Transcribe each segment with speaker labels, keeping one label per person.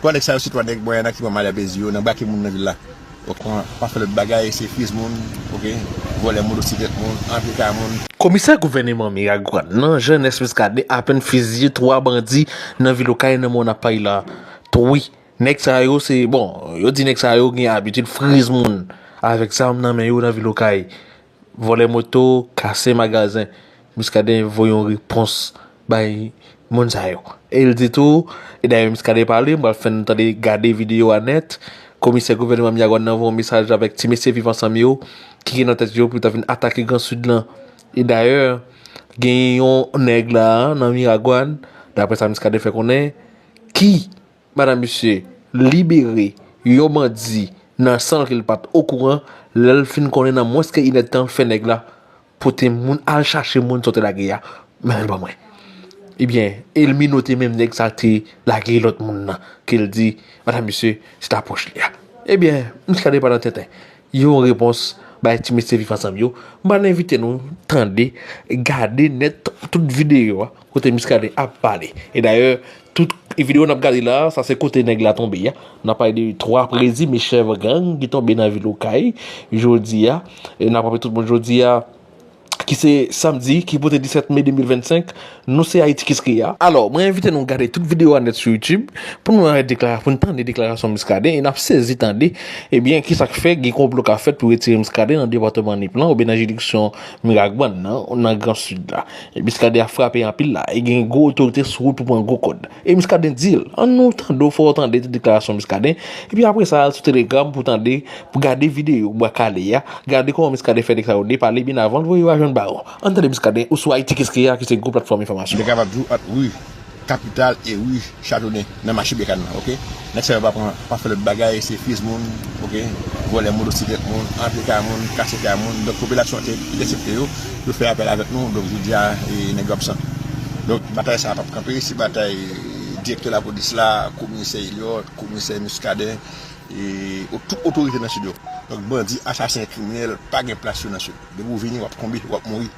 Speaker 1: Twa nèg sa yo se twa nèg mwen nan ki pran malè plezi yo nan brake moun nan vil la ok pran pa fè lòt bagay se fuse moun ok vòlè motosiklet moun antre kay moun. Komisè gouvèneman
Speaker 2: Miragwàn nan Jean Ernest Muscadin apèn fiziye 3 bandi nan vil Okay nan mwa nap pale la wi nèg sa yo se bon yo di nèg sa yo gen abitid friz moun avèk zam nan men yo nan vil Okay. Vòlè moto, kase magazen. Muscadin voye yon repons bay moun sa yo. E l di tou, e dayè Muscadin pale, m pral fè n tande gade videyo a nèt, komisè gouvènman Myawann nan voye yon mesaj avèk ti mesye Viv Ansanm yo ki gen nan tèt yo pou yo ta vin atake Gran Sid lan. E dayè, gen yon nèg la a nan Miragwàn, daprè sa Muscadin fè konnen, ki. Madan misye libere yon bandi nan san ke li pat okouran, lè li fin konnen nan mwens ke inèdtan fè nèg la pote moun al chache moun sa w te lage ya mennen l ban mwen. Ebyen e l minote menm nèg sa te lage lòt moun nan ke l di madan misye se ta pwòch li ya. Ebyen misye al depann nan tenten. Yon repons bay ti mesye viv ansanm yo. M pral envite nou tande, gade nèt tout videyo a kote Muscadin ap pale. E dayè, tout videyo n ap gade la, sa se kote nèg la tonbe a. N ap pale de 3 prezime chèf gang ki tonbe nan vil Okay jodi a. E n ap raple tout moun jodi a. ki se samdi ki pote 17 me 2025, nou se Ayiti Kiss K a. Alò, mwen envite nou gade tout videyo a nèt sou YouTube pou nou al deklara, pou nou tande deklarasyon Muscadin e nap sezi tande ebyen kisa k fè gen konplo ka fèt pou retire Muscadin nan depatman Nip lan oubyen nan jiridiksyon Miragwàn nan, nan gran Sid la. Muscadin ap frape anpil la e gen gwo otorite sou wout pou pran gwo kòd. E Muscadin di l, an nou tande w fè w tande tout deklarasyon Muscadin, epi apre sa al sou Telegram pou tande, pou gade videyo Bwa Kale a, gade kòman Muscadin fè nèg sa yo depale byen avan l voye yo a jwenn Baron. An tande Muscadin ou sou Ayiti Keskeya ki se gwo platfòm enfòmasyon. Mwen kapab di w ant Ri
Speaker 1: Kapital e Ri Chatonnen nan mache Bèkane lan, ok. Nèg sa yo pa pran pa fè lòt bagay se fizz moun ok vòlè motosiklèt moun antre kay moun kase kay moun donk popilasyon an te entèsepte yo yo fè apèl avèk nou donk jodi a nèg yo absan donk batay sa a pap kanpe se batay direktè lapolis la komisè Eliot komisè Muscadin e tout otorite nan sid yo donk bandi asasen kriminèl pa gen plas yo nan sid depi ou vini wap tonbe wap mouri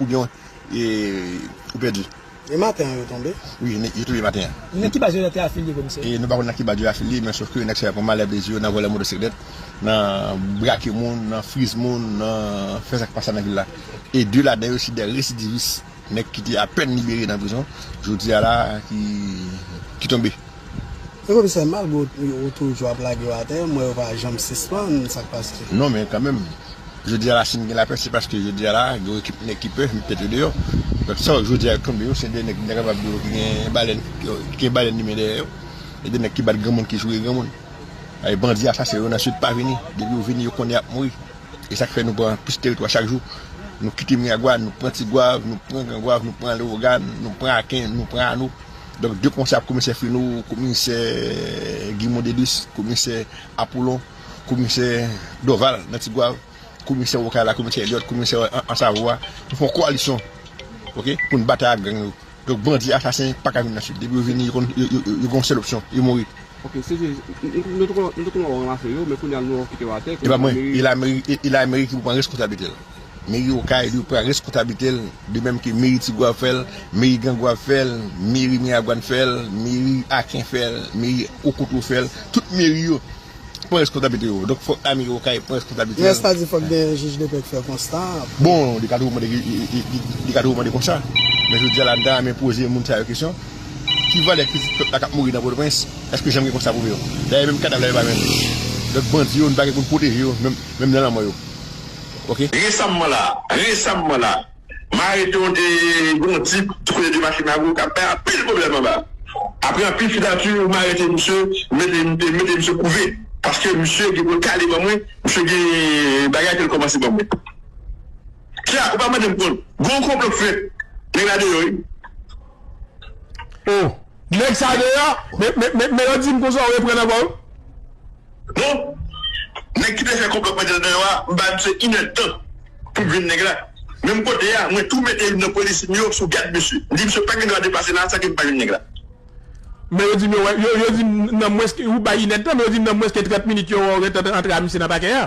Speaker 1: oubyen ou pèdi. E maten an
Speaker 3: yo tonbe? Wi, yo tonbe maten
Speaker 1: an. Nan ki baz yo te
Speaker 3: afilye komisè? Nou pa konn nan ki baz yo afilye
Speaker 1: men sof ke nèg sa yo pran malè plezi yo nan vòlè motosiklèt, nan brake moun, nan friz moun, nan fè sa ki pa sa nan vil la. E 2 ladan yo se 2 residivis, nèg ki te apèn libere nan prizon, jodi a la ki tonbe. E komisè
Speaker 3: malgre ou toujou ap lage yo atè m wè yo pa janm sispann sak pase. Non men kanmenm
Speaker 1: Jodi a la sim gen lapè se paske Jodi a la gen yon ekip nèg ki pè met tèt yo deyò donk sa wè Jodi a yo tonbe yo se 2 nèg m ta kapab di w ki gen balèn ki gen balèn limen dèyè yo se 2 nèg ki bat granmoun ki joure granmoun e bandi asasen yo nan Sid pa vini depi yo vini yo konnen y ap mouri e sak fè nou pran plis teritwa chak jou nou kite Miragwàn nou pran Tigwav nou pran Grangwav nou pran Lewogàn nou pran Aken nou pran Ano. Donk de konsa komisè Feno, komisè Guy Mondelus, komisè Apollon, komisè Dorval nan Tigwav, komisè Okay la, komisè Elliot, komisè an Savoie, nou fon koalisyon ok pou n batay ak gang yo. Donk bandi asasen pa ka vin nan Sid. Depi yo vini yo gon sèl opsyon, yo mouri. Ok CG,
Speaker 4: nou te konnen w ranmase yo men kounya nou wè w kite yo atè. E pa mwen, e
Speaker 1: lameri ki pou pran reskonsablite l. Meri okay li pran reskonsablitel de menm ke meri tigwav ap fèl, meri grangwav fèl, meri miragwan fèl, meri aken fèl, meri okoto fèl, tout meri yo pran reskonsablite yo donk fòk la meri okay pran reskonsablite l. Rès la di fòk gen
Speaker 3: jij depè k fè konsta a pou. Bon li ka toujou
Speaker 1: mande li ka toujou mande konsa men jodi a la m ta renmen poze moun sa yo kesyon ki valè pitit pèp la k ap mouri nan pòtoprens èske janm gen konsta pou yo dayè menm kadav la yo pa jwenn donk bandi yo nou pa gen pou n pwoteje yo menm nan lanmò yo. ok. Resamman la,
Speaker 5: resamman la, Mareton te gen yon tip tou le 2 Makimago k ap bay anpil pwoblèm anba. Apre anpil fidati, m arete misye, m mete m te mete misye kouve paske misye gen pou l kale ban mwen, misye gen bagay ke l kòmanse ban mwen. Kya, ou pa mande m kont? Gen yon konplo k fèt, nèg la deyò wi.
Speaker 4: O, nèg sa deyò? Men, men, men, men lè w di m konsa w reprann ankò wi.
Speaker 5: Bon nèg ki te fè konplo k mete l deyò a m bay misye inèd tan pou jwenn nèg la menm kote a mwen tou mete youn nan polisye m yo sou gad misye m di misye pa gen dwa depase la a san ke m pa jwenn nèg la. Men yo
Speaker 4: di m yo yo di m nan mwens ke ou bay inèd tan men yo di m nan mwens ke 30 minit yo wè w ret antre a misye nan pakè a.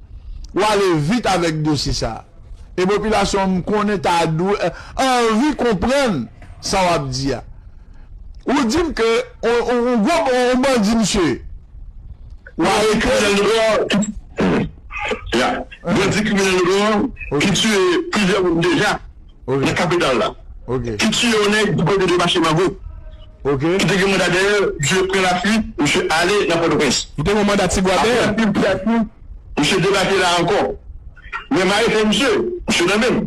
Speaker 6: ou ale vit avèk dosye sa a. E popilasyon an m konnen ta dwe anvi konprann sa w ap di a. Ou di m ke on gwo on bandi misye ye. Ou arete l. Bandi
Speaker 5: kriminèl notò ki tiye plizyè moun deja. nan kapital la, ki tiye yon nèg pou pwodui de mache mango, ki te
Speaker 6: gen manda dèyè
Speaker 5: l, misye pran lafuit, misye ale nan Pòtoprens. Apre anpil
Speaker 4: priyasyon, misye
Speaker 5: debake la ankò. Men maye fè misye, misye nan men m.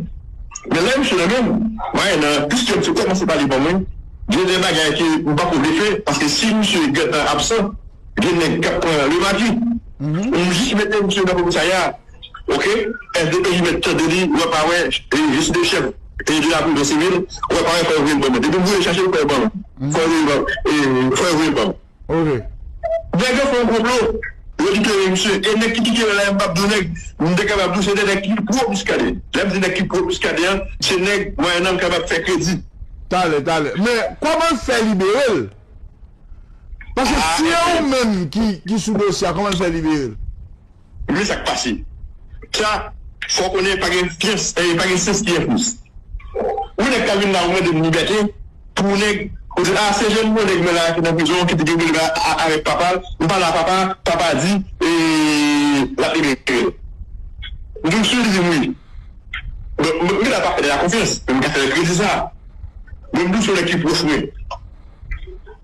Speaker 5: Men lè misye nan men m, maye nan, piske misye kòmanse pale ban mwen, gen de bagay ke m pa ko vle fè, paske si misye gentan absan, gen nèg k ap pran lemaki. M jis mete misye nan komisarya. ok sdpj mèt tande li wè pa wè jistis de chèf de la prison civil wè pa wè fò yo voyel banm depi vouye chache fò yo banm fò yo voyel banm
Speaker 6: nèg yo
Speaker 5: fè yon konplo yo libere misye e nèg ki kite yo la yo mpap diw nèg m te kapab diw se de nèg ki pro Muscadin lèm di nèg ki pro Muscadin an se nèg mwayennan m kapab fè kredi. Talè talè
Speaker 6: men kòman l fè liberel paske si e ou menm ki sou dosye a kòman l fè liberel. Men sa
Speaker 5: k pase, Kya, fè w konnen pa gen fyans, e pa gen syans ki enfous. Ou nèg k ap vin la ou mande m libète pou ou nèg, ou di a se jenn bon nèg mwen la a ki nan prizon an ki di gen pou li pale avèk papa l, m pale a papa, papa di e l ap libere l. M di w si li di m wi, bon m gen dwa pa fè nèg la konfyans, men m ka fè l kredi sa. Men m di w se yon nèg ki pwòch mwen.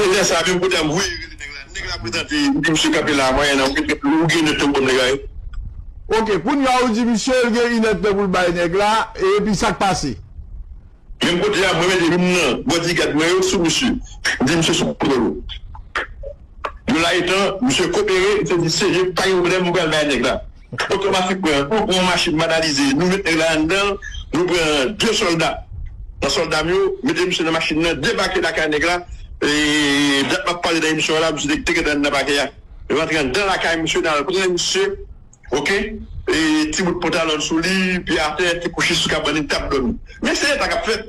Speaker 5: Elè sa menm kote ap voye rele nèg la nèg la prezante li di misye kanpe la mwen nan ou gen 1 èd tan pou banm lagay. Ok
Speaker 6: kounya ou di misye l gen 1 èd tan pou l bay nèg la epi sak pase. Menm
Speaker 5: kote a mwen mete youn nan bodigad mwen yo sou misye m di misye sou kontwòl ou yon la etan misye kopere misye di seje pa gen pwoblèm m pral bay nèg la. Otomatik pran 1 kou pou yon machin banalize nou met nèg la anndanl nou pran 2 sòlda nan sòldam yo mete misye nan machin nan debake lakay nèg la dat map pale nan emisyon an la misye te gentan anndan pakè a nou rantre anndan lakay misye nal pran misye ok ti bout pantalon souli pye atè ti kouchi sou kabann li tap dòmi men se eta kap fèt.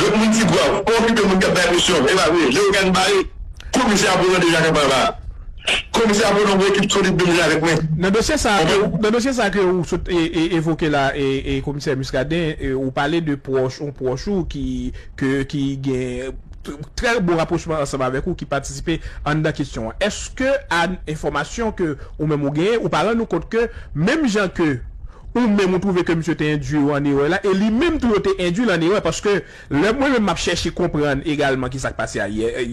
Speaker 5: Lòt moun Tigwav, pa okipe moun k ap bay misyon, evakwe. Lewogàn bare komisè Apo nan deja kanpay ba. Komisè Apo nan gwo ekip solid menm jan avèk mwen. Nan dosye sa
Speaker 4: nan dosye sa ke ou sot evoke la e komisè Muscadin ou pale de pwòch yon pwòch ou ki ke ki gen trè bon rapwochman ansanm avèk ou ki patisipe anndan kesyon an. Èske a enfòmasyon ke ou menm ou genyen ou pa rann ou kont ke menm jan ke Ou menm ou twouve ke misye te endwi yo an erè la e li menm tou yo te endwi l an erè paske lè mwen menm m ap chèche konprann egalman kisa k pase a yè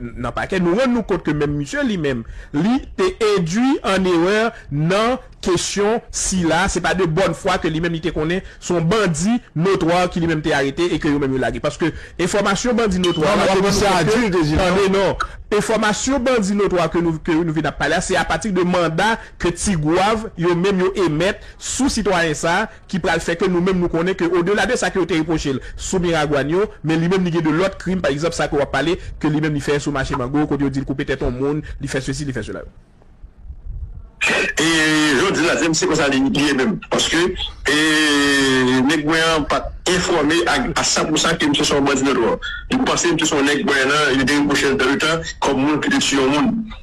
Speaker 4: nan pakè nou rann nou kont ke menm misye li menm li te endwi an erè nan kesyon sila se pa de bòn fwa ke li menm li te konnen se yon bandi notwa ki li menm te arete e ke yo menm yo lage paske enfòmasyon bandi notwa la te rann nou kont ke tande non enfòmasyon bandi notwa ke nou vin ap pale a se apati de manda ke Tigwav yo menm yo emèt sou sitwayen sa a ki pral fè ke nou menm nou konnen ke odela de sa ke yo te repwoche l sou Miragwàn yo, men li menm li gen de lòt krim, pa egzanp sa ke w ap pale ke li menm li fè sou mache mango kote yo di l koupe tèt yon moun, li fè sesi, li fè sela yo.
Speaker 5: E jan w di la, se kon sa li ye menm paske e nèg mwen an pa t enfòme a san pou san ke misye se yon bandi nòdwò. Li panse misye se yon nèg Gwayanan, yo te repwoche l dan le tan kòm moun ki te tiye yon moun.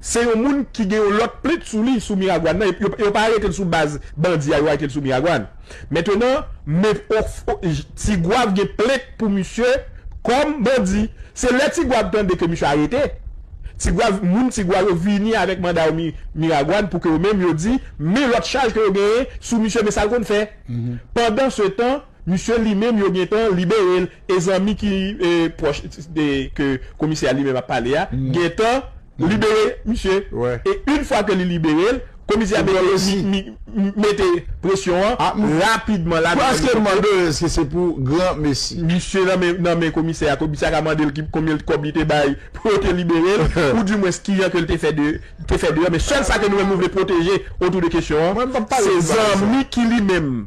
Speaker 4: Se yon moun ki gen yon lòt plent sou li sou Miragwàn nan, yo pa arete l sou baz bandi a, yo arete l sou Miragwàn. Mentenan, Me Tigwav gen plent pou misye kòm bandi. Se lè Tigwav tande ke misye arete, Tigwav, moun Tigwav yo vini avèk manda yo Miragwàn pou ke yo menm yo di, men lòt chaj ke yo genyen sou misye, men sa l konn fè. Pandansetan, misye li menm yo gentan libere l. E zanmi ki pwòch de ke komisè a li menm ap pale a gentan libere misye e yn fwa ke li libere l komisè a mete presyon an rapidman la nan elikoptè a. Pou eske mande eske
Speaker 6: se pou gran mesi. Misye nan
Speaker 4: men komisè a, komisè a ka mande l konbyen kòb li te bay pou yo te libere l ou di mwens kijan ke l te fè deyò men sèl sa ke nou menm nou vle pwoteje otou de kesyon an se zanmi ki li menm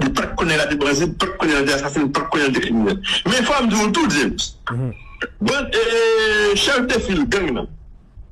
Speaker 5: M pat konnen la te bandi, m pat konnen la te asasen, m pat konnen la te kriminèl. Men fòm di w tou James, band chèf de fil gang nan.